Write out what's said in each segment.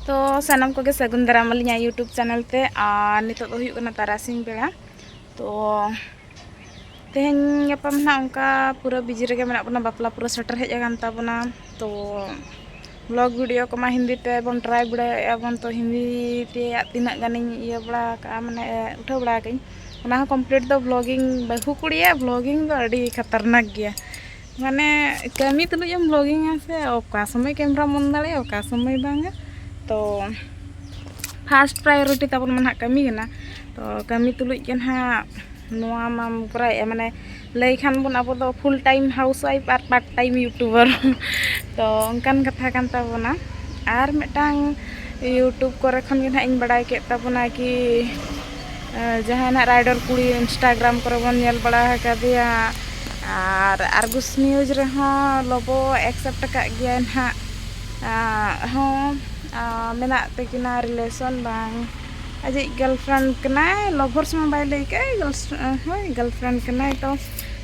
ᱛᱚ ᱥᱟᱱᱟᱢ ᱠᱚᱜᱮ ᱥᱟᱹᱜᱩᱱ ᱫᱟᱨᱟᱢ ᱟᱹᱞᱤᱧᱟ ᱭᱩᱴᱩᱵᱽ ᱪᱮᱱᱮᱞ ᱛᱮ ᱟᱨ ᱱᱤᱛᱚᱜ ᱫᱚ ᱦᱩᱭᱩᱜ ᱠᱟᱱᱟ ᱛᱟᱨᱟᱥᱤᱧ ᱵᱮᱲᱟ ᱛᱚ ᱛᱮᱦᱮᱧ ᱜᱟᱯᱟ ᱢᱟ ᱚᱱᱠᱟ ᱯᱩᱨᱟᱹ ᱵᱤᱡᱤ ᱨᱮᱜᱮ ᱢᱮᱱᱟᱜ ᱵᱚᱱᱟ ᱵᱟᱯᱞᱟ ᱯᱩᱨᱟᱹ ᱥᱮᱴᱮᱨ ᱦᱮᱡ ᱟᱠᱟᱱ ᱛᱟᱵᱚᱱᱟ ᱛᱚ ᱵᱞᱚᱜ ᱵᱷᱤᱰᱤᱭᱳ ᱠᱚᱢᱟ ᱦᱤᱱᱫᱤ ᱛᱮ ᱵᱚᱱ ᱴᱨᱟᱭ ᱵᱟᱲᱟᱭᱮᱫᱼᱟ ᱵᱚᱱ ᱛᱚ ᱦᱤᱱᱫᱤ ᱛᱮᱭᱟᱜ ᱛᱤᱱᱟᱹᱜ ᱜᱟᱱᱤᱧ ᱤᱭᱟᱹ ᱵᱟᱲᱟ ᱠᱟᱜᱼᱟ ᱢᱟᱱᱮ ᱩᱴᱷᱟᱹᱣ ᱵᱟᱲᱟ ᱠᱟᱜᱼᱟᱹᱧ ᱚᱱᱟ ᱦᱚᱸ ᱠᱚᱢᱯᱞᱤᱴ ᱫᱚ ᱵᱞᱚᱜᱤᱝ ᱵᱟᱹᱦᱩ ᱠᱩᱲᱤᱭᱟᱜ ᱵᱞᱚᱜᱤᱝ ᱫᱚ ᱟᱹᱰᱤ ᱠᱷᱟᱛᱟᱨᱱᱟᱠ ᱜᱮᱭᱟ ᱢᱟᱱᱮ ᱠᱟᱹᱢᱤ ᱛᱩᱞᱩᱡ ᱮᱢ ᱵᱞᱚᱜᱤᱝᱟ ᱥᱮ ᱚᱠᱟ ᱥᱚᱢᱚᱭ ᱠᱮᱢᱮᱨᱟᱢ ᱚᱱ ᱫᱟᱲᱮᱭᱟᱜᱼᱟ ᱚᱠᱟ ᱥᱚᱢᱚᱭ ᱵᱟᱝᱟ ᱛᱚ ᱯᱷᱟᱥᱴ ᱯᱨᱟᱭᱳᱨᱤᱴᱤ ᱛᱟᱵᱚᱱ ᱢᱟ ᱱᱟᱦᱟᱜ ᱠᱟᱹᱢᱤ ᱠᱟᱱᱟ ᱛᱚ ᱠᱟᱹᱢᱤ ᱛᱩᱞᱩᱡ ᱜᱮ ᱱᱟᱦᱟᱜ ᱱᱚᱣᱟ ᱢᱟᱢ ᱠᱚᱨᱟᱣᱮᱫᱼᱟ ᱢᱟᱱᱮ ᱞᱟᱹᱭ ᱠᱷᱟᱱ ᱵᱚᱱ ᱟᱵᱚ ᱫᱚ ᱯᱷᱩᱞ ᱴᱟᱭᱤᱢ ᱦᱟᱣᱩᱥ ᱚᱣᱟᱭᱤᱯᱷ ᱟᱨ ᱯᱟᱨᱴ ᱴᱟᱭᱤᱢ ᱤᱭᱩᱴᱩᱵᱟᱨ ᱛᱚ ᱚᱱᱠᱟᱱ ᱠᱟᱛᱷᱟ ᱠᱟᱱ ᱛᱟᱵᱚᱱᱟ ᱟᱨ ᱢᱤᱫᱴᱟᱝ ᱤᱭᱩᱴᱩᱵᱽ ᱠᱚᱨᱮ ᱠᱷᱚᱱ ᱜᱮ ᱱᱟᱦᱟᱜ ᱤᱧ ᱵᱟᱲᱟᱭ ᱠᱮᱫ ᱛᱟᱵᱚᱱᱟ ᱠᱤ ᱡᱟᱦᱟᱸᱭ ᱱᱟᱦᱟᱜ ᱨᱟᱭᱰᱚᱨ ᱠᱩᱲᱤ ᱤᱱᱥᱴᱟᱜᱨᱟᱢ ᱠᱚᱨᱮ ᱵᱚᱱ ᱧᱮᱞ ᱵᱟᱲᱟ ᱟᱠᱟᱫᱮᱭᱟ ᱟᱨ ᱟᱨᱜᱚᱥ ᱱᱤᱭᱩᱡᱽ ᱨᱮᱦᱚᱸ ᱞᱳᱵᱳ ᱮᱠᱥᱮᱯᱴ ᱟᱠᱟᱫ ᱜᱮᱭᱟᱭ ᱱᱟᱦᱟᱜ ᱦᱚᱸ ᱢᱮᱱᱟᱜ ᱛᱟᱹᱠᱤᱱᱟ ᱨᱤᱞᱮᱥᱚᱱ ᱵᱟᱝ ᱟᱡᱤᱡ ᱜᱟᱨᱞ ᱯᱷᱨᱮᱱᱰ ᱠᱟᱱᱟᱭ ᱞᱚᱵᱷᱟᱨᱥ ᱢᱟ ᱵᱟᱭ ᱞᱟᱹᱭ ᱠᱟᱜᱼᱟ ᱦᱳᱭ ᱜᱟᱨᱞ ᱯᱷᱨᱮᱱᱰ ᱠᱟᱱᱟᱭ ᱛᱚ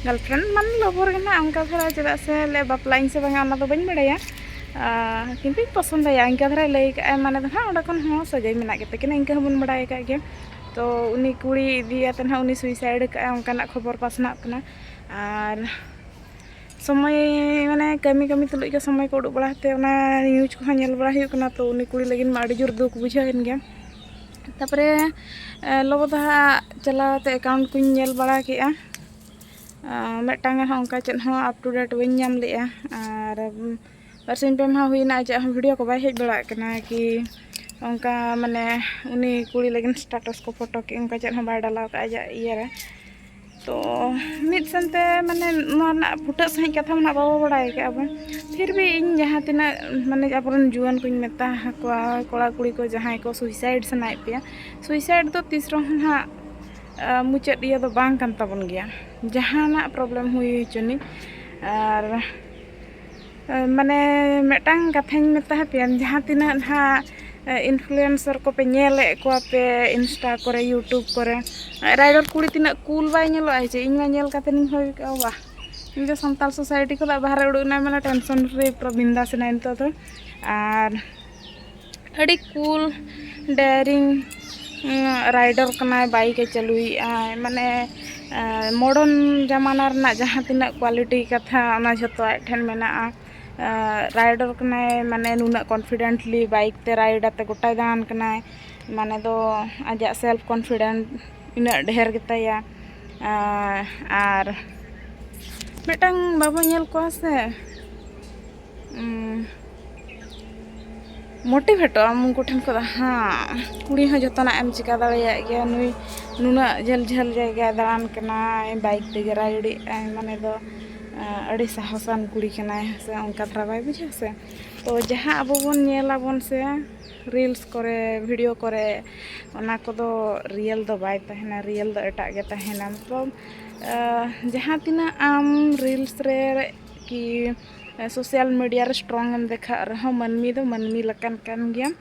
ᱜᱟᱨᱞ ᱯᱷᱨᱮᱱᱰ ᱢᱟᱱᱮ ᱞᱚᱵᱷᱟᱨ ᱜᱮ ᱱᱟᱦᱟᱜ ᱚᱱᱠᱟ ᱫᱷᱟᱨᱟ ᱪᱮᱫᱟᱜ ᱥᱮ ᱵᱟᱯᱞᱟᱜ ᱟᱹᱧ ᱥᱮ ᱵᱟᱝᱟ ᱚᱱᱟᱫᱚ ᱵᱟᱹᱧ ᱵᱟᱲᱟᱭᱟ ᱠᱤᱱᱛᱩᱧ ᱯᱚᱥᱚᱱᱫᱟᱭᱟ ᱤᱱᱠᱟᱹ ᱫᱷᱟᱨᱟᱭ ᱞᱟᱹᱭ ᱠᱟᱜᱼᱟᱭ ᱢᱟᱱᱮ ᱫᱚ ᱱᱟᱦᱟᱜ ᱚᱸᱰᱮ ᱠᱷᱚᱱ ᱦᱚᱸ ᱥᱟᱹᱜᱟᱹᱭ ᱢᱮᱱᱟᱜ ᱜᱮᱛᱟ ᱠᱤᱱᱟ ᱤᱱᱠᱟᱹ ᱦᱚᱸᱵᱚᱱ ᱵᱟᱲᱟᱭ ᱠᱟᱜ ᱜᱮᱭᱟ ᱛᱚ ᱩᱱᱤ ᱠᱩᱲᱤ ᱤᱫᱤᱭᱟᱛᱮ ᱱᱟᱦᱟᱜ ᱩᱱᱤ ᱥᱩᱭᱥᱟᱭᱤᱰ ᱠᱟᱜᱼᱟᱭ ᱚᱱᱠᱟᱱᱟᱜ ᱠᱷᱚᱵᱚᱨ ᱯᱟᱥᱱᱟᱜ ᱠᱟᱱᱟ ᱟᱨ ᱥᱚᱢᱚᱭ ᱢᱟᱱᱮ ᱠᱟᱹᱢᱤ ᱠᱟᱹᱢᱤ ᱛᱩᱞᱩᱡ ᱜᱮ ᱥᱚᱢᱚᱭ ᱠᱚ ᱩᱰᱩᱠ ᱵᱟᱲᱟ ᱠᱟᱛᱮ ᱚᱱᱟ ᱱᱤᱭᱩᱡᱽ ᱠᱚᱦᱚᱸ ᱧᱮᱞ ᱵᱟᱲᱟ ᱦᱩᱭᱩᱜ ᱠᱟᱱᱟ ᱛᱚ ᱩᱱᱤ ᱠᱩᱲᱤ ᱞᱟᱹᱜᱤᱫ ᱢᱟ ᱟᱹᱰᱤ ᱡᱳᱨ ᱫᱩᱠ ᱵᱩᱡᱷᱟᱹᱣ ᱮᱱ ᱜᱮᱭᱟ ᱛᱟᱨᱯᱚᱨᱮ ᱞᱚᱵᱚ ᱫᱚ ᱦᱟᱸᱜ ᱪᱟᱞᱟᱣ ᱠᱟᱛᱮ ᱮᱠᱟᱣᱩᱱᱴ ᱠᱚᱧ ᱧᱮᱞ ᱵᱟᱲᱟ ᱠᱮᱜᱼᱟ ᱢᱤᱫᱴᱟᱝ ᱦᱚᱸ ᱚᱱᱠᱟ ᱪᱮᱫ ᱦᱚᱸ ᱟᱯ ᱴᱩ ᱰᱮᱴ ᱵᱟᱹᱧ ᱧᱟᱢ ᱞᱮᱜᱼᱟ ᱟᱨ ᱵᱟᱨᱥᱤᱧ ᱯᱮ ᱢᱟᱦᱟ ᱦᱩᱭᱱᱟ ᱟᱡᱟᱜ ᱦᱚᱸ ᱵᱷᱤᱰᱤᱭᱳ ᱠᱚ ᱵᱟᱭ ᱦᱮᱡ ᱵᱟᱲᱟᱜ ᱠᱟᱱᱟ ᱠᱤ ᱚᱱᱠᱟ ᱢᱟᱱᱮ ᱩᱱᱤ ᱠᱩᱲᱤ ᱞᱟᱹᱜᱤᱫ ᱥᱴᱟᱴᱟᱥ ᱠᱚ ᱯᱷᱳᱴᱳ ᱠᱤ ᱚᱱᱠᱟ ᱪᱮᱫ ᱦᱚᱸ ᱵᱟᱭ ᱰᱟᱞᱟᱣ ᱠᱟᱜᱼᱟ ᱟᱡᱟᱜ ᱤᱭᱟᱹ ᱨᱮ ᱛᱚ ᱢᱤᱫ ᱥᱮᱱᱛᱮ ᱢᱟᱱᱮ ᱱᱚᱣᱟ ᱨᱮᱱᱟᱜ ᱯᱷᱩᱴᱟᱹᱜ ᱥᱟᱺᱦᱤᱡ ᱠᱟᱛᱷᱟ ᱢᱟ ᱱᱟᱜ ᱵᱟᱵᱚ ᱵᱟᱲᱟᱭ ᱠᱟᱜᱼᱟ ᱵᱚᱱ ᱯᱷᱤᱨ ᱵᱷᱤ ᱤᱧ ᱡᱟᱦᱟᱸ ᱛᱤᱱᱟᱹᱜ ᱢᱟᱱᱮ ᱟᱵᱚ ᱨᱮᱱ ᱡᱩᱣᱟᱹᱱ ᱠᱚᱧ ᱢᱮᱛᱟ ᱟᱠᱚᱣᱟ ᱠᱚᱲᱟ ᱠᱩᱲᱤ ᱠᱚ ᱡᱟᱦᱟᱸᱭ ᱠᱚ ᱥᱩᱭᱥᱟᱭᱤᱰ ᱥᱟᱱᱟᱭᱮᱫ ᱯᱮᱭᱟ ᱥᱩᱭᱥᱟᱭᱤᱰ ᱫᱚ ᱛᱤᱥ ᱨᱮᱦᱚᱸ ᱱᱟᱜ ᱢᱩᱪᱟᱹᱫ ᱤᱭᱟᱹ ᱫᱚ ᱵᱟᱝ ᱠᱟᱱ ᱛᱟᱵᱚᱱ ᱜᱮᱭᱟ ᱡᱟᱦᱟᱱᱟᱜ ᱯᱨᱚᱵᱞᱮᱢ ᱦᱩᱭ ᱦᱚᱪᱚᱱᱤᱡ ᱟᱨ ᱢᱟᱱᱮ ᱢᱤᱫᱴᱟᱝ ᱠᱟᱛᱷᱟᱧ ᱢᱮᱛᱟ ᱯᱮᱭᱟ ᱡᱟᱦᱟᱸ ᱛᱤᱱᱟᱹᱜ ᱱᱟᱦᱟᱜ ᱤᱱᱯᱷᱞᱩᱭᱮᱱᱥᱟᱨ ᱠᱚᱯᱮ ᱧᱮᱞᱮᱫ ᱠᱚᱣᱟ ᱯᱮ ᱤᱱᱥᱴᱟ ᱠᱚᱨᱮ ᱤᱭᱩᱴᱩᱵᱽ ᱠᱚᱨᱮ ᱨᱟᱭᱰᱚᱨ ᱠᱩᱲᱤ ᱛᱤᱱᱟᱹᱜ ᱠᱩᱞ ᱵᱟᱭ ᱧᱮᱞᱚᱜᱼᱟ ᱡᱮ ᱤᱧ ᱢᱟ ᱧᱮᱞ ᱠᱟᱛᱮ ᱤᱧ ᱵᱷᱟᱹᱵᱤ ᱠᱮᱫᱼᱟ ᱵᱟᱦ ᱤᱧ ᱫᱚ ᱥᱟᱱᱛᱟᱲ ᱥᱳᱥᱟᱭᱴᱤ ᱠᱷᱚᱱᱟᱜ ᱵᱟᱦᱨᱮ ᱩᱰᱩᱠ ᱮᱱᱟᱭ ᱢᱟᱱᱮ ᱴᱮᱱᱥᱚᱱ ᱯᱷᱨᱤ ᱯᱩᱨᱟᱹ ᱵᱤᱱᱫᱟᱥ ᱮᱱᱟᱭ ᱱᱤᱛᱚᱜ ᱫᱚ ᱟᱨ ᱟᱹᱰᱤ ᱠᱩᱞ ᱰᱮᱭᱟᱨᱤᱝ ᱨᱟᱭᱰᱟᱨ ᱠᱟᱱᱟᱭ ᱵᱟᱭᱤᱠᱮ ᱪᱟᱹᱞᱩᱭᱮᱫᱼᱟᱭ ᱢᱟᱱᱮ ᱢᱚᱰᱟᱨᱱ ᱡᱟᱢᱟᱱᱟ ᱨᱮᱱᱟᱜ ᱡᱟᱦᱟᱸ ᱛᱤᱱᱟᱹᱜ ᱠᱚᱣᱟᱞᱤᱴᱤ ᱠᱟᱛᱷᱟ ᱚᱱᱟ ᱡᱷᱚᱛᱚ ᱟᱡ ᱴᱷᱮᱱ ᱢᱮᱱᱟᱜᱼᱟ ᱨᱟᱭᱰᱟᱨ ᱠᱟᱱᱟᱭ ᱢᱟᱱᱮ ᱱᱩᱱᱟᱹᱜ ᱠᱚᱱᱯᱷᱤᱰᱮᱱᱴᱞᱤ ᱵᱟᱭᱤᱠ ᱛᱮ ᱨᱟᱭᱤᱰ ᱟᱛᱮ ᱜᱳᱴᱟᱭ ᱫᱟᱬᱟᱱ ᱠᱟᱱᱟᱭ ᱢᱟᱱᱮ ᱫᱚ ᱟᱡᱟᱜ ᱥᱮᱞᱯᱷ ᱠᱚᱱᱯᱷᱤᱰᱮᱱᱴ ᱤᱱᱟᱹᱜ ᱰᱷᱮᱨ ᱜᱮᱛᱟᱭᱟ ᱟᱨ ᱢᱤᱫᱴᱟᱝ ᱵᱟᱵᱚ ᱧᱮᱞ ᱠᱚᱣᱟ ᱥᱮ ᱢᱳᱴᱤᱵᱷᱮᱴᱚᱜ ᱟᱢ ᱩᱱᱠᱩ ᱴᱷᱮᱱ ᱠᱷᱚᱱ ᱦᱮᱸ ᱠᱩᱲᱤ ᱦᱚᱸ ᱡᱚᱛᱚᱱᱟᱜ ᱮᱢ ᱪᱤᱠᱟᱹ ᱫᱟᱲᱮᱭᱟᱜ ᱜᱮᱭᱟ ᱱᱩᱭ ᱱᱩᱱᱟᱹᱜ ᱡᱷᱟᱹᱞ ᱡᱷᱟᱹᱞ ᱡᱟᱭᱜᱟᱭ ᱫᱟᱬᱟᱱ ᱠᱟᱱᱟᱭ ᱵᱟᱭᱤᱠ ᱛᱮᱜᱮ ᱨᱟᱭᱨᱤᱫ ᱟᱭ ᱢᱟᱱᱮ ᱫᱚ ᱟᱹᱰᱤ ᱥᱟᱦᱚᱥᱟᱱ ᱠᱩᱲᱤ ᱠᱟᱱᱟᱭ ᱦᱮᱸ ᱥᱮ ᱚᱱᱠᱟ ᱫᱷᱟᱨᱟ ᱵᱟᱭ ᱵᱩᱡᱷᱟᱹᱜᱼᱟ ᱥᱮ ᱛᱚ ᱡᱟᱦᱟᱸ ᱟᱵᱚ ᱵᱚᱱ ᱧᱮᱞ ᱟᱵᱚᱱ ᱥᱮ ᱨᱤᱞᱥ ᱠᱚᱨᱮ ᱵᱷᱤᱰᱤᱭᱳ ᱠᱚᱨᱮ ᱚᱱᱟ ᱠᱚᱫᱚ ᱨᱤᱭᱮᱞ ᱫᱚ ᱵᱟᱭ ᱛᱟᱦᱮᱱᱟ ᱨᱤᱭᱮᱞ ᱫᱚ ᱮᱴᱟᱜ ᱜᱮ ᱛᱟᱦᱮᱱᱟ ᱢᱚᱛᱞᱚᱵ ᱡᱟᱦᱟᱸ ᱛᱤᱱᱟᱹᱜ ᱟᱢ ᱨᱤᱞᱥ ᱨᱮ ᱠᱤ ᱥᱳᱥᱟᱞ ᱢᱤᱰᱤᱭᱟ ᱨᱮ ᱥᱴᱨᱚᱝ ᱮᱢ ᱫᱮᱠᱷᱟᱜ ᱨᱮᱦᱚᱸ ᱢᱟᱹᱱᱢᱤ ᱫᱚ ᱢᱟᱹᱱᱢᱤ ᱞᱮᱠᱟᱱ ᱠᱟᱱ ᱜᱮᱭᱟᱢ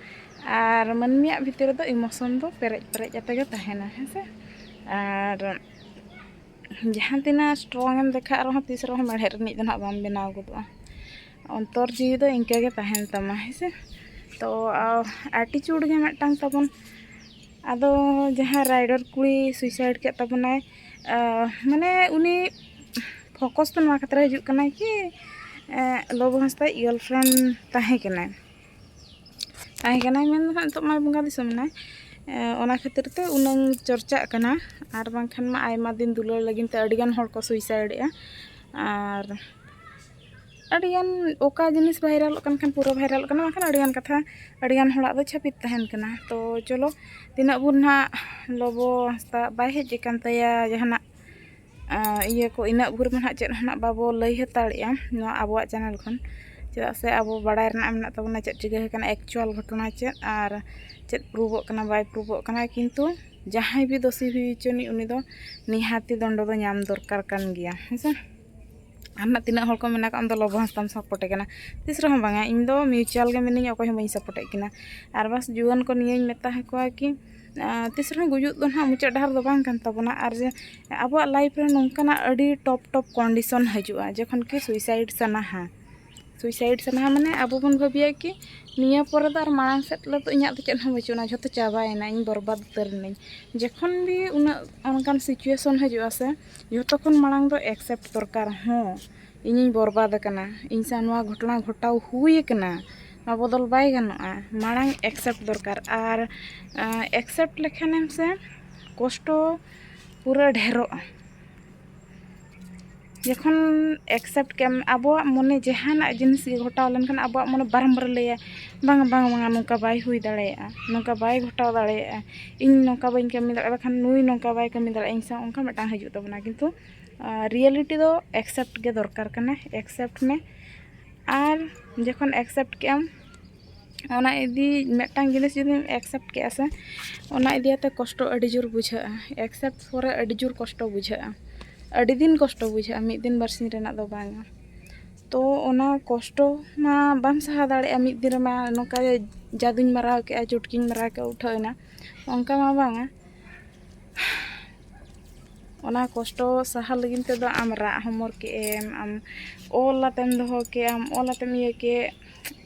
ᱟᱨ ᱢᱟᱹᱱᱢᱤᱭᱟᱜ ᱵᱷᱤᱛᱤᱨ ᱨᱮᱫᱚ ᱤᱢᱳᱥᱚᱱ ᱫᱚ ᱯᱮᱨᱮᱡ ᱯᱮᱨᱮᱡ ᱠᱟᱛᱮ ᱜᱮ ᱛᱟᱦᱮᱱᱟ ᱦᱮᱸ ᱥᱮ ᱟᱨ ᱡᱟᱦᱟᱸ ᱛᱤᱱᱟᱹᱜ ᱥᱴᱨᱚᱝ ᱮᱢ ᱫᱮᱠᱷᱟᱜ ᱨᱮᱦᱚᱸ ᱛᱤᱥ ᱨᱮᱦᱚᱸ ᱢᱮᱬᱦᱮᱫ ᱨᱤᱱᱤᱡ ᱫᱚ ᱱᱟᱦᱟᱜ ᱵᱟᱢ ᱵᱮᱱᱟᱣ ᱜᱚᱫᱚᱜᱼᱟ ᱚᱱᱛᱚᱨ ᱡᱤᱣᱤ ᱫᱚ ᱤᱱᱠᱟᱹ ᱜᱮ ᱛᱟᱦᱮᱱ ᱛᱟᱢᱟ ᱦᱮᱸ ᱥᱮ ᱛᱚ ᱮᱴᱤᱪᱩᱰ ᱜᱮ ᱢᱤᱫᱴᱟᱝ ᱛᱟᱵᱚᱱ ᱟᱫᱚ ᱡᱟᱦᱟᱸ ᱨᱟᱭᱰᱚᱨ ᱠᱩᱲᱤ ᱥᱩᱭᱥᱟᱭᱤᱰ ᱠᱮᱫ ᱛᱟᱵᱚᱱᱟᱭ ᱢᱟᱱᱮ ᱩᱱᱤ ᱯᱷᱳᱠᱚᱥ ᱫᱚ ᱱᱚᱣᱟ ᱠᱷᱟᱹᱛᱤᱨ ᱦᱤᱡᱩᱜ ᱠᱟᱱᱟ ᱠᱤ ᱞᱚᱵᱚ ᱦᱟᱸᱥᱫᱟᱭ ᱜᱟᱨᱞ ᱯᱷᱨᱮᱱᱰ ᱛᱟᱦᱮᱸ ᱠᱟᱱᱟᱭ ᱛᱟᱦᱮᱸ ᱠᱟᱱᱟᱭ ᱢᱮᱱ ᱫᱚ ᱦᱟᱸᱜ ᱱᱤᱛᱚᱜ ᱢᱟᱭ ᱵᱚᱸᱜᱟ ᱫᱤᱥᱚᱢ ᱮᱱᱟᱭ ᱚᱱᱟ ᱠᱷᱟᱹᱛᱤᱨ ᱛᱮ ᱩᱱᱟᱹᱝ ᱪᱚᱨᱪᱟᱜ ᱠᱟᱱᱟ ᱟᱨ ᱵᱟᱝᱠᱷᱟᱱ ᱢᱟ ᱟᱭᱢᱟ ᱫᱤᱱ ᱫᱩᱞᱟᱹᱲ ᱞᱟᱹᱜᱤᱫ ᱛᱮ ᱟᱹᱰᱤ ᱜᱟᱱ ᱦᱚᱲ ᱠᱚ ᱥᱩᱭᱥᱟᱭᱤᱰᱮᱜᱼᱟ ᱟᱨ ᱟᱹᱰᱤᱜᱟᱱ ᱚᱠᱟ ᱡᱤᱱᱤᱥ ᱵᱷᱟᱭᱨᱟᱞᱚᱜ ᱠᱟᱱ ᱠᱷᱟᱱ ᱯᱩᱨᱟᱹ ᱵᱷᱟᱭᱨᱟᱞᱚᱜ ᱠᱟᱱᱟ ᱵᱟᱝᱠᱷᱟᱱ ᱟᱹᱰᱤᱜᱟᱱ ᱠᱟᱛᱷᱟ ᱟᱹᱰᱤᱜᱟᱱ ᱦᱚᱲᱟᱜ ᱫᱚ ᱪᱷᱟᱹᱯᱤᱛ ᱛᱟᱦᱮᱱ ᱠᱟᱱᱟ ᱛᱚ ᱪᱚᱞᱚ ᱛᱤᱱᱟᱹᱜ ᱵᱷᱳᱨ ᱱᱟᱦᱟᱜ ᱞᱚᱵᱚ ᱦᱟᱸᱥᱫᱟ ᱵᱟᱭ ᱦᱮᱡ ᱟᱠᱟᱱ ᱛᱟᱭᱟ ᱡᱟᱦᱟᱱᱟᱜ ᱤᱭᱟᱹ ᱠᱚ ᱤᱱᱟᱹᱜ ᱵᱷᱳᱨ ᱢᱟ ᱱᱟᱦᱟᱜ ᱪᱮᱫ ᱦᱚᱸ ᱱᱟᱦᱟᱜ ᱵᱟᱵᱚ ᱞᱟᱹᱭ ᱦᱟᱛᱟᱲᱮᱜᱼᱟ ᱱᱚᱣᱟ ᱟᱵᱚᱣᱟᱜ ᱪᱮᱱᱮᱞ ᱠᱷᱚᱱ ᱪᱮᱫᱟᱜ ᱥᱮ ᱟᱵᱚ ᱵᱟᱲᱟᱭ ᱨᱮᱱᱟᱜ ᱢᱮᱱᱟᱜ ᱛᱟᱵᱚᱱᱟ ᱪᱮᱫ ᱪᱤᱠᱟᱹ ᱟᱠᱟᱱᱟ ᱮᱠᱪᱩᱭᱮᱞ ᱜᱷᱚᱴᱚᱱᱟ ᱪᱮᱫ ᱟᱨ ᱪᱮᱫ ᱯᱨᱩᱵᱷᱚᱜ ᱠᱟᱱᱟ ᱵᱟᱭ ᱯᱨᱩᱵᱷᱚᱜ ᱠᱟᱱᱟ ᱠᱤᱱᱛᱩ ᱡᱟᱦᱟᱸᱭ ᱜᱮ ᱫᱳᱥᱤ ᱦᱩᱭ ᱦᱚᱪᱚᱱᱤᱡ ᱩᱱᱤ ᱫᱚ ᱱᱤᱦᱟᱹᱛᱤ ᱫᱚᱱᱰᱚ ᱫᱚ ᱧᱟᱢ ᱫᱚᱨᱠᱟᱨ ᱠᱟᱱ ᱜᱮᱭᱟ ᱦᱮᱸ ᱥᱮ ᱟᱨ ᱱᱟᱜ ᱛᱤᱱᱟᱹᱜ ᱦᱚᱲ ᱠᱚ ᱢᱮᱱᱟ ᱠᱚ ᱟᱢᱫᱚ ᱞᱚᱵᱚ ᱦᱟᱸᱥᱫᱟᱢ ᱥᱟᱯᱳᱨᱴᱮ ᱠᱟᱱᱟ ᱛᱤᱥ ᱨᱮᱦᱚᱸ ᱵᱟᱝᱟ ᱤᱧ ᱫᱚ ᱢᱤᱭᱩᱪᱩᱭᱟᱞ ᱜᱮ ᱢᱤᱱᱟᱹᱧᱟ ᱚᱠᱚᱭ ᱦᱚᱸ ᱵᱟᱹᱧ ᱥᱟᱯᱳᱨᱴᱮᱜ ᱠᱤᱱᱟ ᱟᱨ ᱵᱟᱥ ᱡᱩᱣᱟᱹᱱ ᱠᱚ ᱱᱤᱭᱟᱹᱧ ᱢᱮᱛᱟ ᱠᱚᱣᱟ ᱠᱤ ᱛᱤᱥ ᱨᱮᱦᱚᱸ ᱜᱩᱡᱩᱜ ᱫᱚ ᱱᱟᱜ ᱢᱩᱪᱟᱹᱫ ᱰᱟᱦᱟᱨ ᱫᱚ ᱵᱟᱝ ᱠᱟᱱ ᱛᱟᱵᱚᱱᱟ ᱟᱨ ᱡᱮ ᱟᱵᱚᱣᱟᱜ ᱞᱟᱭᱤᱯᱷ ᱨᱮ ᱱᱚᱝᱠᱟᱱᱟᱜ ᱟᱹᱰᱤ ᱴᱚᱯ ᱴᱚᱯ ᱠᱚᱱᱰᱤᱥᱚᱱ ᱦᱤᱡᱩᱜᱼᱟ ᱡᱚᱠᱷᱚᱱ ᱠᱤ ᱥᱩᱭᱥᱟᱭᱤᱰ ᱥᱟᱱᱟᱣᱟ ᱥᱩᱭᱥᱟᱭᱤᱰ ᱥᱟᱱᱟᱣᱟ ᱢᱟᱱᱮ ᱟᱵᱚ ᱵᱚᱱ ᱵᱷᱟᱹᱵᱤᱭᱟ ᱠᱤ ᱱᱤᱭᱟᱹ ᱯᱚᱨᱮ ᱫᱚ ᱟᱨ ᱢᱟᱲᱟᱝ ᱥᱮᱫ ᱫᱚ ᱤᱧᱟᱹᱜ ᱫᱚ ᱪᱮᱫ ᱦᱚᱸ ᱵᱟᱹᱪᱩᱜ ᱟᱱᱟ ᱡᱚᱛᱚ ᱪᱟᱵᱟᱭᱮᱱᱟ ᱤᱧ ᱵᱚᱨᱵᱟᱫᱽ ᱩᱛᱟᱹᱨ ᱮᱱᱟᱹᱧ ᱡᱚᱠᱷᱚᱱ ᱜᱮ ᱩᱱᱟᱹᱜ ᱚᱱᱠᱟᱱ ᱥᱤᱪᱩᱭᱮᱥᱚᱱ ᱦᱤᱡᱩᱜ ᱟᱥᱮ ᱡᱚᱛᱚ ᱠᱷᱚᱱ ᱢᱟᱲᱟᱝ ᱫᱚ ᱮᱠᱥᱮᱯᱴ ᱫᱚᱨᱠᱟᱨ ᱦᱚᱸ ᱤᱧᱤᱧ ᱵᱚᱨᱵᱟᱫᱽ ᱟᱠᱟᱱᱟ ᱤᱧ ᱥᱟᱶ ᱱᱚᱣᱟ ᱜᱷᱚᱴᱚᱱᱟ ᱜᱷᱚᱴᱟᱣ ᱦᱩᱭ ᱟᱠᱟᱱᱟ ᱱᱚᱣᱟ ᱵᱚᱫᱚᱞ ᱵᱟᱭ ᱜᱟᱱᱚᱜᱼᱟ ᱢᱟᱲᱟᱝ ᱮᱠᱥᱮᱯᱴ ᱫᱚᱨᱠᱟᱨ ᱟᱨ ᱮᱠᱥᱮᱯᱴ ᱞᱮᱠᱷᱟᱱᱮᱢ ᱥᱮ ᱠᱚᱥᱴᱚ ᱯᱩᱨᱟᱹ ᱰᱷᱮᱨᱚᱜᱼᱟ ᱡᱚᱠᱷᱚᱱ ᱮᱠᱥᱮᱯᱴ ᱠᱮᱜᱼᱟᱢ ᱟᱵᱚᱣᱟᱜ ᱢᱚᱱᱮ ᱡᱟᱦᱟᱱᱟᱜ ᱡᱤᱱᱤᱥ ᱜᱮ ᱜᱷᱚᱴᱟᱣ ᱞᱮᱱᱠᱷᱟᱱ ᱟᱵᱚᱣᱟᱜ ᱢᱚᱱᱮ ᱵᱟᱨᱚᱢᱵᱟᱨᱮ ᱞᱟᱹᱭᱟ ᱵᱟᱝᱟ ᱵᱟᱝᱟ ᱵᱟᱝᱟ ᱱᱚᱝᱠᱟ ᱵᱟᱭ ᱦᱩᱭ ᱫᱟᱲᱮᱭᱟᱜᱼᱟ ᱱᱚᱝᱠᱟ ᱵᱟᱭ ᱜᱷᱚᱴᱟᱣ ᱫᱟᱲᱮᱭᱟᱜᱼᱟ ᱤᱧ ᱱᱚᱝᱠᱟ ᱵᱟᱹᱧ ᱠᱟᱹᱢᱤ ᱫᱟᱲᱮᱭᱟᱜᱼᱟ ᱵᱟᱠᱷᱟᱱ ᱱᱩᱭ ᱱᱚᱝᱠᱟ ᱵᱟᱭ ᱠᱟᱹᱢᱤ ᱫᱟᱲᱮᱭᱟᱜᱼᱟ ᱤᱧ ᱥᱟᱶ ᱚᱱᱠᱟ ᱢᱤᱫᱴᱟᱝ ᱦᱤᱡᱩᱜ ᱛᱟᱵᱚᱱᱟ ᱠᱤᱱᱛᱩ ᱨᱤᱭᱮᱞᱤᱴᱤ ᱫᱚ ᱮᱠᱥᱮᱯᱴ ᱜᱮ ᱫᱚᱨᱠᱟᱨ ᱠᱟᱱᱟ ᱮᱠᱥᱮᱯᱴ ᱢᱮ ᱟᱨ ᱡᱚᱠᱷᱚᱱ ᱮᱠᱥᱮᱯᱴ ᱠᱮᱜᱼᱟᱢ ᱚᱱᱟ ᱤᱫᱤ ᱢᱤᱫᱴᱟᱝ ᱡᱤᱱᱤᱥ ᱡᱩᱫᱤᱢ ᱮᱠᱥᱮᱯᱴ ᱠᱮᱜᱼᱟ ᱥᱮ ᱚᱱᱟ ᱤᱫᱤᱭᱟᱛᱮ ᱠᱚᱥᱴᱚ ᱟᱹᱰᱤ ᱡᱳᱨ ᱵᱩᱡᱷᱟᱹᱜᱼᱟ ᱮᱠᱥᱮᱯᱴ ᱯᱚᱨᱮ ᱟᱹᱰᱤ ᱡᱳᱨ ᱠᱚᱥᱴᱚ ᱵᱩᱡᱷᱟᱹᱜᱼᱟ ᱟᱹᱰᱤ ᱫᱤᱱ ᱠᱚᱥᱴᱚ ᱵᱩᱡᱷᱟᱹᱜᱼᱟ ᱢᱤᱫ ᱫᱤᱱ ᱵᱟᱨ ᱥᱤᱧ ᱨᱮᱱᱟᱜ ᱫᱚ ᱵᱟᱝᱟ ᱛᱚ ᱚᱱᱟ ᱠᱚᱥᱴᱚ ᱢᱟ ᱵᱟᱢ ᱥᱟᱦᱟᱣ ᱫᱟᱲᱮᱭᱟᱜᱼᱟ ᱢᱤᱫ ᱫᱤᱱ ᱨᱮᱢᱟ ᱱᱚᱝᱠᱟ ᱜᱮ ᱡᱟᱫᱩᱧ ᱢᱟᱨᱟᱣ ᱠᱮᱜᱼᱟ ᱪᱩᱴᱠᱤᱧ ᱢᱟᱨᱟᱣ ᱠᱮᱜᱼᱟ ᱩᱴᱷᱟᱹᱣ ᱮᱱᱟ ᱚᱱᱠᱟ ᱢᱟ ᱵᱟᱝᱟ ᱚᱱᱟ ᱠᱚᱥᱴᱚ ᱥᱟᱦᱟ ᱞᱟᱹᱜᱤᱫ ᱛᱮᱫᱚ ᱟᱢ ᱨᱟᱜ ᱦᱚᱢᱚᱨ ᱠᱮᱜ ᱮᱢ ᱟᱢ ᱚᱞ ᱠᱟᱛᱮᱢ ᱫᱚᱦᱚ ᱠᱮᱜ ᱟᱢ ᱚᱞ ᱠᱟᱛᱮᱢ ᱤᱭᱟᱹ ᱠᱮᱜ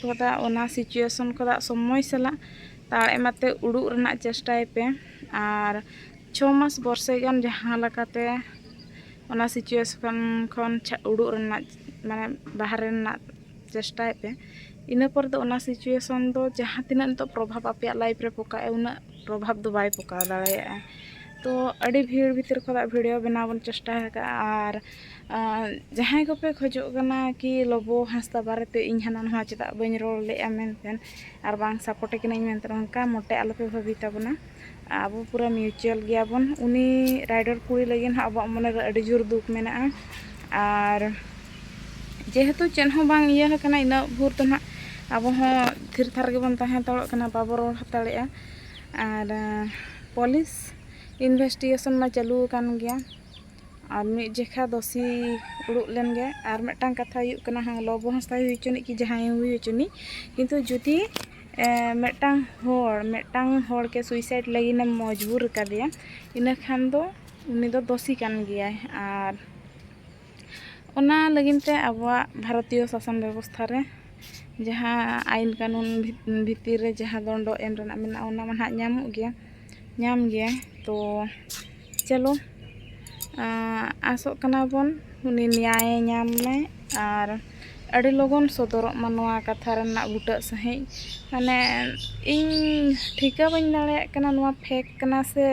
ᱠᱷᱚᱫᱟ ᱚᱱᱟ ᱥᱤᱪᱩᱭᱮᱥᱚᱱ ᱠᱷᱚᱫᱟ ᱥᱚᱢᱚᱭ ᱥᱟᱞᱟᱜ ᱛᱟᱲ ᱮᱢᱟᱛᱮ ᱩᱰᱩᱜ ᱨᱮᱱᱟᱜ ᱪᱮᱥᱴᱟᱭ ᱯᱮ ᱟᱨ ᱪᱷᱚ ᱢᱟᱥ ᱵᱚᱨᱥᱮ ᱜᱟᱱ ᱡᱟᱦᱟᱸ ᱞᱮᱠᱟᱛᱮ ᱚᱱᱟ ᱥᱤᱪᱩᱭᱮᱥᱚᱱ ᱠᱷᱚᱱ ᱩᱰᱩᱜ ᱨᱮᱱᱟᱜ ᱢᱟᱱᱮ ᱵᱟᱦᱨᱮ ᱨᱮᱱᱟᱜ ᱪᱮᱥᱴᱟᱭ ᱯᱮ ᱤᱱᱟᱹ ᱯᱚᱨ ᱫᱚ ᱚᱱᱟ ᱥᱤᱪᱩᱭᱮᱥᱚᱱ ᱫᱚ ᱡᱟᱦᱟᱸ ᱛᱤᱱᱟᱹᱜ ᱱᱤᱛᱚᱜ ᱯᱨᱚᱵᱷᱟᱵᱽ ᱟᱯᱮᱭᱟᱜ ᱞᱟᱭᱤᱯᱷ ᱨᱮ ᱯᱚᱠᱟᱭ ᱩᱱᱟᱹᱜ ᱯᱨᱚᱵᱷᱟᱵᱽ ᱫᱚ ᱵᱟᱭ ᱯᱚᱠᱟᱣ ᱫᱟᱲᱮᱭᱟᱜᱼᱟ ᱛᱚ ᱟᱹᱰᱤ ᱵᱷᱤᱲ ᱵᱷᱤᱛᱤᱨ ᱠᱷᱚᱱᱟᱜ ᱵᱷᱤᱰᱤᱭᱳ ᱵᱮᱱᱟᱣ ᱵᱚᱱ ᱪᱮᱥᱴᱟ ᱟᱠᱟᱫᱼᱟ ᱟᱨ ᱡᱟᱦᱟᱸᱭ ᱠᱚᱯᱮ ᱠᱷᱚᱡᱚᱜ ᱠᱟᱱᱟ ᱠᱤ ᱞᱚᱵᱚ ᱦᱟᱸᱥᱫᱟ ᱵᱟᱨᱮᱛᱮ ᱤᱧ ᱦᱟᱱᱟ ᱱᱚᱣᱟ ᱪᱮᱫᱟᱜ ᱵᱟᱹᱧ ᱨᱚᱲ ᱞᱮᱫᱼᱟ ᱢᱮᱱᱛᱮ ᱟᱨ ᱵᱟᱝ ᱥᱟᱯᱳᱨᱴᱮ ᱠᱟᱹᱱᱟᱹᱧ ᱢᱮᱱᱛᱮ ᱚᱱᱠᱟ ᱢᱚᱴᱮ ᱟᱞᱚᱯᱮ ᱵᱷᱟᱹᱵᱤ ᱛᱟᱵᱚᱱᱟ ᱟᱵᱚ ᱯᱩᱨᱟᱹ ᱢᱤᱭᱩᱪᱩᱭᱟᱞ ᱜᱮᱭᱟᱵᱚᱱ ᱩᱱᱤ ᱨᱟᱭᱰᱚᱨ ᱠᱩᱲᱤ ᱞᱟᱹᱜᱤᱫ ᱦᱚᱸ ᱟᱵᱚᱣᱟᱜ ᱢᱚᱱᱮ ᱨᱮ ᱟᱹᱰᱤ ᱡᱳᱨ ᱫᱩᱠ ᱢᱮᱱᱟᱜᱼᱟ ᱟᱨ ᱡᱮᱦᱮᱛᱩ ᱪᱮᱫ ᱦᱚᱸ ᱵᱟᱝ ᱤᱭᱟᱹ ᱟᱠᱟᱱᱟ ᱤᱱᱟᱹᱜ ᱵᱷᱳᱨ ᱫᱚ ᱱᱟᱦᱟᱜ ᱟᱵᱚ ᱦᱚᱸ ᱛᱷᱤᱨ ᱛᱷᱟᱨ ᱜᱮᱵᱚᱱ ᱛᱟᱦᱮᱸ ᱦᱟᱛᱟᱲᱚᱜ ᱠᱟᱱᱟ ᱵᱟᱵᱚ ᱨᱚᱲ ᱦᱟᱛᱟᱲᱮᱜᱼᱟ ᱟᱨ ᱯᱩᱞᱤᱥ ᱤᱱᱵᱷᱮᱥᱴᱤᱜᱮᱥᱚᱱ ᱢᱟ ᱪᱟᱹᱞᱩ ᱟᱠᱟᱱ ᱜᱮᱭᱟ ᱟᱨ ᱢᱤᱫ ᱡᱚᱠᱷᱟ ᱫᱚ ᱥᱤ ᱩᱰᱩᱠ ᱞᱮᱱ ᱜᱮ ᱟᱨ ᱢᱤᱫᱴᱟᱝ ᱠᱟᱛᱷᱟ ᱦᱩᱭᱩᱜ ᱠᱟᱱᱟ ᱦᱮᱸ ᱞᱚᱵᱚ ᱦᱟᱸᱥᱫᱟᱭ ᱦᱩᱭ ᱦᱚᱪᱚᱱᱤᱡ ᱠᱤ ᱡᱟᱦᱟᱸᱭ ᱦᱩᱭ ᱦᱚᱪᱚᱱᱤᱡ ᱠᱤᱱᱛᱩ ᱡᱩᱫᱤ ᱢᱤᱫᱴᱟᱝ ᱦᱚᱲ ᱢᱤᱫᱴᱟᱝ ᱦᱚᱲ ᱜᱮ ᱥᱩᱭᱥᱟᱭᱤᱰ ᱞᱟᱹᱜᱤᱫ ᱮᱢ ᱢᱚᱡᱽᱵᱩᱨ ᱟᱠᱟᱫᱮᱭᱟ ᱤᱱᱟᱹ ᱠᱷᱟᱱ ᱫᱚ ᱩᱱᱤ ᱫᱚ ᱫᱳᱥᱤ ᱠᱟᱱ ᱜᱮᱭᱟᱭ ᱟᱨ ᱚᱱᱟ ᱞᱟᱹᱜᱤᱫ ᱛᱮ ᱟᱵᱚᱣᱟᱜ ᱵᱷᱟᱨᱚᱛᱤᱭᱚ ᱥᱟᱥᱚᱱ ᱵᱮᱵᱚᱥᱛᱷᱟ ᱨᱮ ᱡᱟᱦᱟᱸ ᱟᱹᱭᱤᱱ ᱠᱟᱹᱱᱩᱱ ᱵᱷᱤᱛᱤᱨ ᱨᱮ ᱡᱟᱦᱟᱸ ᱫᱚᱱᱰᱚ ᱮᱢ ᱨᱮᱱᱟᱜ ᱢᱮᱱᱟᱜᱼᱟ ᱚᱱᱟ ᱢᱟ ᱱᱟᱦᱟᱜ ᱧᱟᱢᱚᱜ ᱜᱮᱭᱟ ᱧᱟᱢ ᱜᱮᱭᱟᱭ ᱛᱚ ᱪᱚᱞᱚ ᱟᱥᱚᱜ ᱠᱟᱱᱟ ᱵᱚᱱ ᱩᱱᱤ ᱱᱮᱭᱟᱭᱮ ᱧᱟᱢ ᱢᱟᱭ ᱟᱨ ᱟᱹᱰᱤ ᱞᱚᱜᱚᱱ ᱥᱚᱫᱚᱨᱚᱜ ᱢᱟ ᱱᱚᱣᱟ ᱠᱟᱛᱷᱟ ᱨᱮᱱᱟᱜ ᱵᱩᱴᱟᱹ ᱥᱟᱺᱦᱤᱡ ᱢᱟᱱᱮ ᱤᱧ ᱴᱷᱤᱠᱟᱹ ᱵᱟᱹᱧ ᱫᱟᱲᱮᱭᱟᱜ ᱠᱟᱱᱟ ᱱᱚᱣᱟ ᱯᱷᱮᱠ ᱠᱟᱱᱟ ᱥᱮ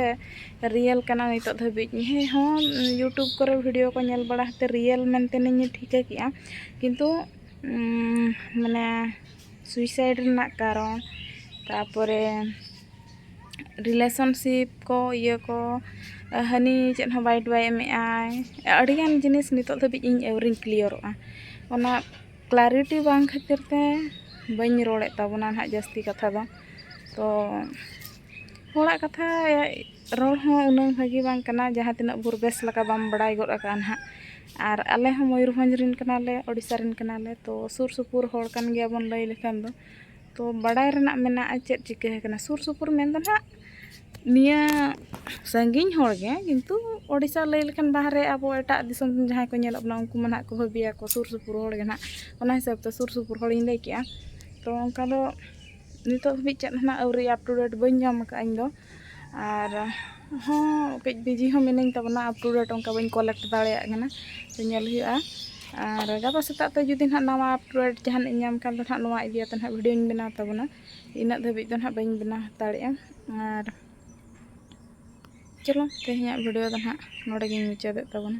ᱨᱤᱭᱮᱞ ᱠᱟᱱᱟ ᱱᱤᱛᱚᱜ ᱫᱷᱟᱹᱵᱤᱡ ᱦᱮᱸ ᱦᱚᱸ ᱤᱭᱩᱴᱩᱵᱽ ᱠᱚᱨᱮ ᱵᱷᱤᱰᱤᱭᱳ ᱠᱚ ᱧᱮᱞ ᱵᱟᱲᱟ ᱠᱟᱛᱮᱫ ᱨᱤᱭᱮᱞ ᱢᱮᱱᱛᱮ ᱤᱧ ᱴᱷᱤᱠᱟᱹ ᱠᱮᱫᱼᱟ ᱠᱤᱱᱛᱩ ᱢᱟᱱᱮ ᱥᱩᱭᱥᱟᱭᱤᱰ ᱨᱮᱱᱟᱜ ᱠᱟᱨᱚᱱ ᱛᱟᱨᱯᱚᱨᱮ ᱨᱤᱞᱮᱥᱚᱱᱥᱤᱯ ᱠᱚ ᱤᱭᱟᱹ ᱠᱚ ᱦᱟᱹᱱᱤ ᱪᱮᱫ ᱦᱚᱸ ᱵᱟᱭ ᱵᱟᱭ ᱮᱢᱮᱫ ᱟᱭ ᱟᱹᱰᱤᱜᱟᱱ ᱡᱤᱱᱤᱥ ᱱᱤᱛᱚᱜ ᱫᱷᱟᱹᱵᱤᱡ ᱤᱧ ᱟᱹᱣᱨᱤᱧ ᱠᱞᱤᱭᱟᱨᱚᱜᱼᱟ ᱚᱱᱟ ᱠᱞᱟᱨᱤᱴᱤ ᱵᱟᱝ ᱠᱷᱟᱹᱛᱤᱨ ᱛᱮ ᱵᱟᱹᱧ ᱨᱚᱲᱮᱫ ᱛᱟᱵᱚᱱᱟ ᱦᱟᱸᱜ ᱡᱟᱹᱥᱛᱤ ᱠᱟᱛᱷᱟ ᱫᱚ ᱛᱚ ᱦᱚᱲᱟᱜ ᱠᱟᱛᱷᱟ ᱨᱚᱲ ᱦᱚᱸ ᱩᱱᱟᱹᱜ ᱵᱷᱟᱹᱜᱤ ᱵᱟᱝ ᱠᱟᱱᱟ ᱡᱟᱦᱟᱸ ᱛᱤᱱᱟᱹᱜ ᱵᱷᱳᱨ ᱵᱮᱥ ᱞᱮᱠᱟ ᱵᱟᱢ ᱵᱟᱲᱟᱭ ᱜᱚᱫ ᱠᱟᱜᱼᱟ ᱦᱟᱸᱜ ᱟᱨ ᱟᱞᱮ ᱦᱚᱸ ᱢᱚᱭᱩᱨᱵᱷᱚᱸᱡᱽ ᱨᱮᱱ ᱠᱟᱱᱟᱞᱮ ᱳᱰᱤᱥᱟ ᱨᱮᱱ ᱠᱟᱱᱟᱞᱮ ᱛᱚ ᱥᱩᱨ ᱥᱩᱯᱩᱨ ᱦᱚᱲ ᱠᱟᱱ ᱜᱮᱭᱟ ᱵᱚᱱ ᱞᱟᱹᱭ ᱞᱮᱠᱷᱟᱱ ᱫᱚ ᱛᱚ ᱵᱟᱲᱟᱭ ᱨᱮᱱᱟᱜ ᱢᱮᱱᱟᱜᱼᱟ ᱪᱮᱫ ᱪᱤᱠᱟᱹ ᱟᱠᱟᱱᱟ ᱥᱩᱨ ᱥᱩᱯᱩᱨ ᱢᱮᱱ ᱫᱚ ᱦᱟᱸᱜ ᱱᱤᱭᱟᱹ ᱥᱟᱺᱜᱤᱧ ᱦᱚᱲ ᱜᱮ ᱠᱤᱱᱛᱩ ᱳᱰᱤᱥᱟ ᱞᱟᱹᱭ ᱞᱮᱠᱷᱟᱱ ᱵᱟᱦᱨᱮ ᱟᱵᱚ ᱮᱴᱟᱜ ᱫᱤᱥᱚᱢ ᱨᱮᱱ ᱡᱟᱦᱟᱸᱭ ᱠᱚ ᱧᱮᱞᱚᱜ ᱠᱟᱱᱟ ᱩᱱᱠᱩ ᱢᱟ ᱦᱟᱸᱜ ᱠᱚ ᱵᱷᱟᱹᱵᱤᱭᱟ ᱠᱚ ᱥᱩᱨ ᱥᱩᱯᱩᱨ ᱦᱚᱲ ᱜᱮ ᱦᱟᱸᱜ ᱚᱱᱟ ᱦᱤᱥᱟᱹᱵ ᱛᱮ ᱥᱩᱨ ᱥᱩᱯᱩᱨ ᱦᱚᱲᱤᱧ ᱞᱟᱹᱭ ᱠᱮᱜᱼᱟ ᱛᱚ ᱚᱱᱠᱟ ᱫᱚ ᱱᱤᱛᱚᱜ ᱫᱷᱟᱹᱵᱤᱡ ᱪᱮᱫ ᱦᱚᱸ ᱦᱟᱸᱜ ᱟᱹᱣᱨᱤ ᱟᱯᱴᱩᱰᱮᱴ ᱵᱟᱹᱧ ᱧᱟᱢ ᱠᱟᱜᱼᱟ ᱤᱧ ᱫᱚ ᱟᱨ ᱦᱚᱸ ᱠᱟᱹᱡ ᱵᱤᱡᱤ ᱦᱚᱸ ᱢᱤᱱᱟᱹᱧ ᱛᱟᱵᱚᱱᱟ ᱟᱯ ᱴᱩ ᱰᱮᱴ ᱚᱱᱠᱟ ᱵᱟᱹᱧ ᱠᱚᱞᱮᱠᱴ ᱫᱟᱲᱮᱭᱟᱜ ᱠᱟᱱᱟ ᱛᱚ ᱧᱮᱞ ᱦᱩᱭᱩᱜᱼᱟ ᱟᱨ ᱜᱟᱯᱟ ᱥᱮᱛᱟᱜ ᱛᱮ ᱡᱩᱫᱤ ᱱᱟᱦᱟᱜ ᱱᱟᱣᱟ ᱟᱯ ᱴᱩ ᱰᱮᱴ ᱡᱟᱦᱟᱱᱟᱜ ᱤᱧ ᱧᱟᱢ ᱠᱷᱟᱱ ᱫᱚ ᱱᱟᱦᱟᱜ ᱱᱚᱣᱟ ᱤᱫᱤ ᱠᱟᱛᱮ ᱱᱟᱦᱟᱜ ᱵᱷᱤᱰᱤᱭᱳᱧ ᱵᱮᱱᱟᱣ ᱛᱟᱵᱚᱱᱟ ᱤᱱᱟᱹᱜ ᱫᱷᱟᱹᱵᱤᱡ ᱫᱚ ᱱᱟᱦᱟᱜ ᱵᱟᱹᱧ ᱵᱮᱱᱟᱣ ᱦᱟᱛᱟᱲᱮᱜᱼᱟ ᱟᱨ ᱪᱚᱞᱚ ᱛᱮᱦᱮᱧᱟᱜ ᱵᱷᱤᱰᱤᱭᱳ ᱫᱚ ᱱᱟᱦᱟᱜ ᱱᱚᱰᱮ ᱜᱤᱧ ᱢᱩᱪᱟᱹᱫᱮᱫ ᱛᱟᱵᱚᱱᱟ